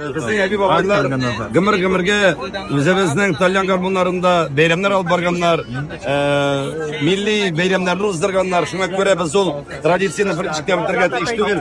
Безнең әби-бабайлар гомер-гомергә үзебезнең тальян гармуннарында бәйрәмнәр алып барганнар, милли бәйрәмнәрне уздырганнар. Шуңа күрә без ул традицияне беренче киметергә тиеш түгел.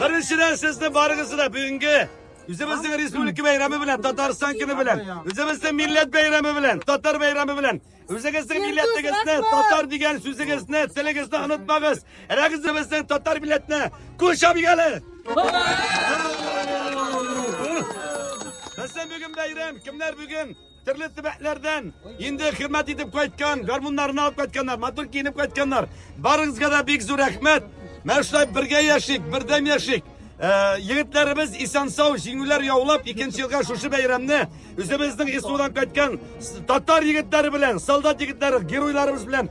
Беренчедән сезне барыгызны да бүгенге Үзебезнең республика бәйрәме белән, Татарстан көне белән, үзебезнең милләт бәйрәме белән, татар бәйрәме белән, үзегезнең милләтегезне, татар дигән сүзегезне, телегезне онытмагыз. Рәгызебезнең татар милләтне күршә бигәле. Безнең бүген бәйрәм, кемнәр бүген Төрле төбәкләрдән инде хезмәт итеп кайткан, гармуннарны алып кайтканнар, матур киенеп кайтканнар. Барыгызга да бик зур рәхмәт. Менә шулай бергә яшик, бердәм яшик. Э, егетләребез исән сау җиңүләр яулап икенче елга шушы бәйрәмне үзебезнең исудан кайткан татар егетләре белән солдат егетләре геройларыбыз белән